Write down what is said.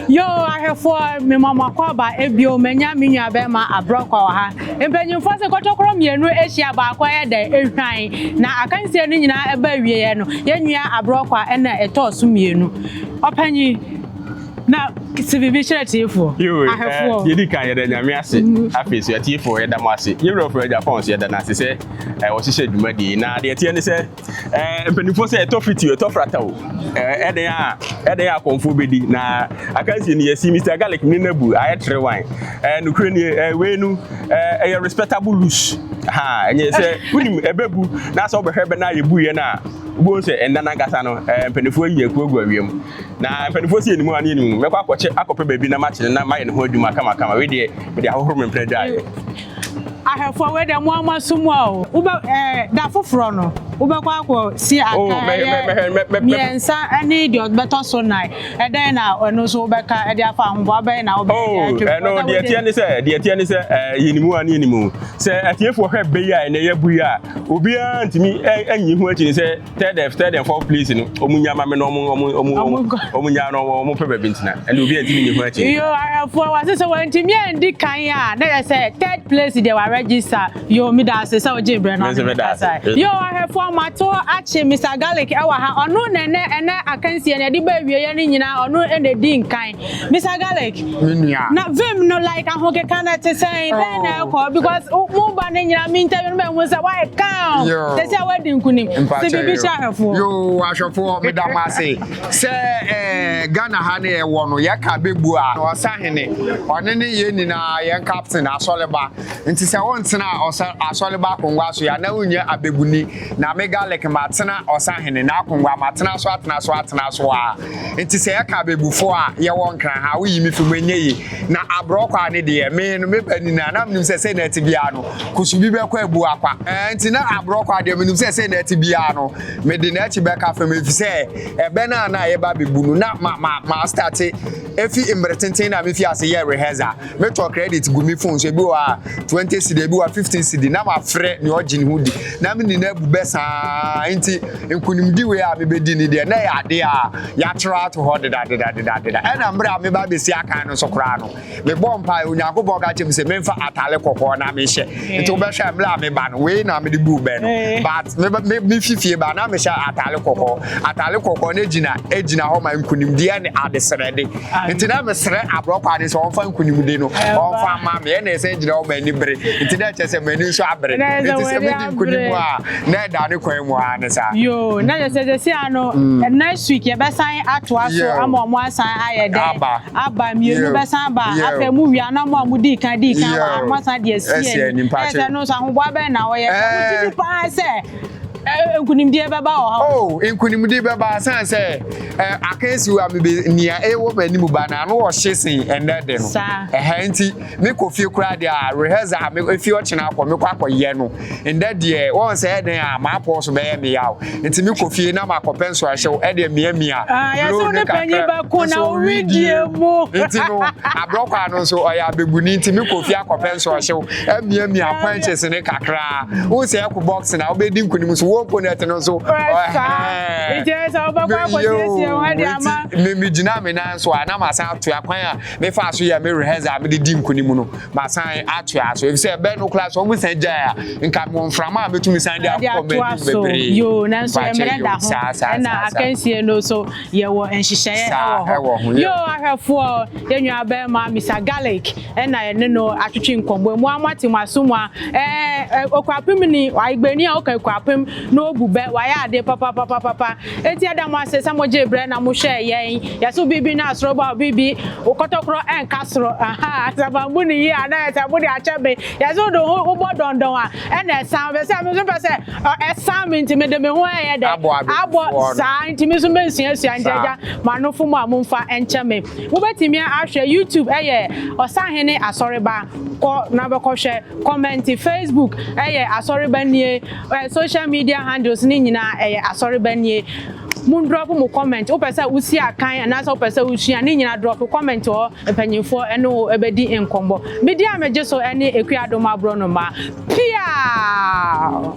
Yoo ahwɛfoɔ mema mo akwaaba bio manya me nua bɛɛma abrɔkwa wɔ ha mpanyinfoɔ se kɔtɔkorɔ mmienu hyia baako yɛ dɛ hwan na akansie no nyinaa ɛba awieɛ no yɛ nua abrɔkwa na ɛtɔɔ so mmienu ɔpanyin na se biribi kyerɛ atiefoɔ Yoo ahwɛfoɔ. eh, yɛdi kan yɛda Nyame ase afei nso atiefoɔ yɛda mo ase yɛwura ɔfrɛ Japan nso yɛda no ase sɛ eh, ɔhyehyɛ dwumadie yi na deɛ ɛteɛ ne sɛ Eh, mpanimfoɔ sɛ ɛtɔ fiti ɛtɔ frata o eh, ɛdɛn a ɛdɛn a kɔnfoɔ bɛdi na akansie no yɛsi mr garlic ne no abu ayɛ tere wan eh, nokorɛ nie eh, wei no eh, ɛyɛ respectable loose ha ɛnyɛ sɛ wonim ɛbɛbu na sɛ wobɛhwɛ bɛ no a yɛbuiɛ no a wobɛhu sɛ ɛnna no ankasa no eh, mpanimfoɔ ayi akuo agu awia mu na mpanimfoɔ sɛ yɛnimu a ne yɛnimu mɛkɔ akɔkyɛ akɔpɛ baabi na makyene na mayɛ ne ho adwuma kamakama wei deɛ mede ahohoro me mpena dwaeɛ Ahwɛfoɔ wei deɛ mo ama so mu a o. Wobɛ ɛɛ da foforɔ no wobɛkɔ akɔ si aka oh, ɛyɛ mmiɛnsa ɛne deɛ ɔbɛtɔ so nan ɛdɛn na ɛno nso wobɛka ɛde afa ahoboa bɛyɛ na wobɛyɛ oh, atwa ɛno deɛ ɛteɛ ne sɛ deɛ ɛteɛ ne sɛ ɛɛ yɛnimu a ne yɛnimu sɛ atiefoɔ hwɛ bɛyi a ɛnɛ yɛbu yi a obiara ntumi ɛnyi ho akyi ne sɛ tell them tell them for place no ɔmo nya ma mi na ɔmo ɔmo ɔmo ɔmo nya na ɔmo pɛ baabi ntina ɛna obi ɛntumi nyi ho akyi. yo arafo wa sɛ sɛ wɔntumi ɛndi kan a na yɛ sɛ third place deɛ wa register yo mi da ase sɛ o gye brɛ na ɔmo kasa yo arafo ɔmo ato akye mr garlic ɛwɔ ha ɔno na ɛnɛ ɛnɛ akansie na ɛde bɛ awie yɛ ne nyinaa ɔno ɛna ɛdi nkan Mr Garlic. Me nua. Na vim no like ahokeka na te sɛn oh. bɛn na ɛkɔ because mo ba no nyina me ntɛm no bɛhu sɛ wayɛ kaw sɛ sɛ wadi nkonim sɛ biribi hyɛ ahwɛfoɔ yo ahwɛfoɔ meda mo ase sɛ eh, ghana ha ne yɛwɔ no yɛka bɛbu a ɔsa hene ɔne ne yɛ nyinaa yɛn captain asɔleba nti sɛ wontena asɔleba akongua so yɛ na wonyɛ abɛbuni na me garlic matena ɔsa hene na akongua matena so atena so atena so a Nti sɛ yɛka abɛbufoɔ a yɛwɔ nkran ha a woyi me fi mu ɛnyɛ yie na abrɔkwaa ne deɛ me no me ba nini a na menim sɛ sei na ɛte biara no kusu bi bɛkɔ abu akwa ɛɛ nti na abrɔkwaa deɛ menim sɛ sei na ɛte biara no mede n'akyi bɛka fam ɛfiri sɛ ɛbɛ no a na yɛba abɛbu no na ma ma ma starte ɛfi mmerɛ tenten na mefi ase yɛ rehearsal Me tɔ credit gu me phone so ebi wɔ a twenty cedi ebi wɔ a fifteen cedi na ma frɛ nea ɔgye ne ho di na me ne no abu bɛ saa nti nkunimdi wei a me bɛ di ne deɛ na ɛyɛ adeɛ a yatwerɛ ato hɔ deda deda deda deda ɛna mmerɛ a me ba bɛ si akan no so koraa no me bɔ mpaeɛ Onyankopɔn ka kyerɛ me sɛ me nfa atare kɔkɔɔ na me hyɛ Nti wobɛhwɛ a, berɛ a meba no, wei na mede buu bɛ no. But meba me mefi fie ba na mehyɛ atare kɔkɔɔ. Atare kɔkɔɔ no gyina gyina hɔ ma nkunimdie ne adesrɛde. Nti na mesrɛ aborɔkwaa no sɛ ɔmfa nkunimdie no ɔmfa mma me. Ɛna ɛsan gyina hɔ ma anibere. Nti na ɛkyerɛ sɛ m'ani nso abere. Nti sɛ medi nkunim a, na ɛda ne kwan mu ara ne saa. Yoo, na kyerɛ sɛ seesei ara no, next week yɛbɛsan atoa so ama wɔasan ayɛ dɛn? Aba. aba, mmienu bɛsan aba, afei mo wie a na mo a mo dii kan dii kan wɔ ha no mo asan de asie ani, ɛyɛ sɛ ɛno nso ahoboa bɛn na ɔyɛ, sɛ mo gye di paa sɛ ɛ nkunimdie bɛba wɔ ha. Oh, nkunimdie bɛba asan sɛ ɛ akansi wa mi bi nea ɛwɔ mo anim ba na ano ɔhye sen ɛnɛ de no, ɛhɛ nti mi kɔ fie koraa deɛ a rehearse a mi efi ɔkyena akɔ mi kɔ akɔ yɛ no. Ndɛ deɛ wɔn sɛ ɛdɛn a m'apɔw so bɛyɛ me yaw nti me kɔ fie na makɔpɛ nsoahyew ɛde miamia blue no kakra nso widie mu nti no abrɔkwaa no nso ɔyɛ abɛbuni nti me kɔ fie akɔpɛ nsoahyew amiamia quenches no kakra wohu sɛ ɛko box na wobɛdi nkunim nso wall ponet no nso ɛhɛɛ nti me megyina me nan so a na masan atoa kwan a mefaa so yɛ me rehearsal a mede di nkunim no Masan atoa so efisɛ ɛbɛn no koraa sɛ wɔn san gyae a nka mewɔ mframa a metumi san de akɔ m'anim bebree. Yoo, nanso yɛn mmerɛ da ho. Ɛna akansie no so yɛwɔ nhyehyɛeɛ wɔ hɔ. Yoo, ahwɛfoɔ, yɛn nua barima Mister Garlic ɛna yɛne no atwetwe nkɔmmɔ. Emu a moate mo aso mu a ɛɛ Ekuapemni, Igbeni a ɔka Ekuapem na ɔbu bɛ, wayɛ adeɛ papapapapa. Enti yɛda mo ase sɛ mogyee berɛ na mohwɛɛ yɛn. Yɛse wo biribi na soro ba, wo biribi, wo kɔtɔkorɔ ɛnka soro. Ahaa, sɛ mambu no yie a na ayɛ sɛ mode akyɛ me. Yɛse wode wo ho wobɔ dɔndɔn a, ɛna ɛsan. Ɛfiri sɛ me nso mpɛ sɛ ɛsan me nti mede me ho ɛyɛ dɛ? Abɔ abebufoɔ no. Saa nti me nso mɛsuasua nti agya m'anofo mu a momfa nkyɛ me. Wobɛtumi ahwɛ YouTube ɛyɛ Ɔsahene Asɔreba. Kɔ na bɛkɔhwɛ. Kɔmɛnte Facebook ɛyɛ Asɔreba nie. Ɛ social media handles no nyinaa ɛyɛ asɔreba nie mo drop mo comment wopɛ sɛ wosi akan anaasɛ wopɛ sɛ wosua ne nyinaa drop comment hɔ mpanyinfoɔ ɛne wo ɛbɛdi nkɔmmɔ bedi a megye so ɛne Akuadom aborɔnoma piaa.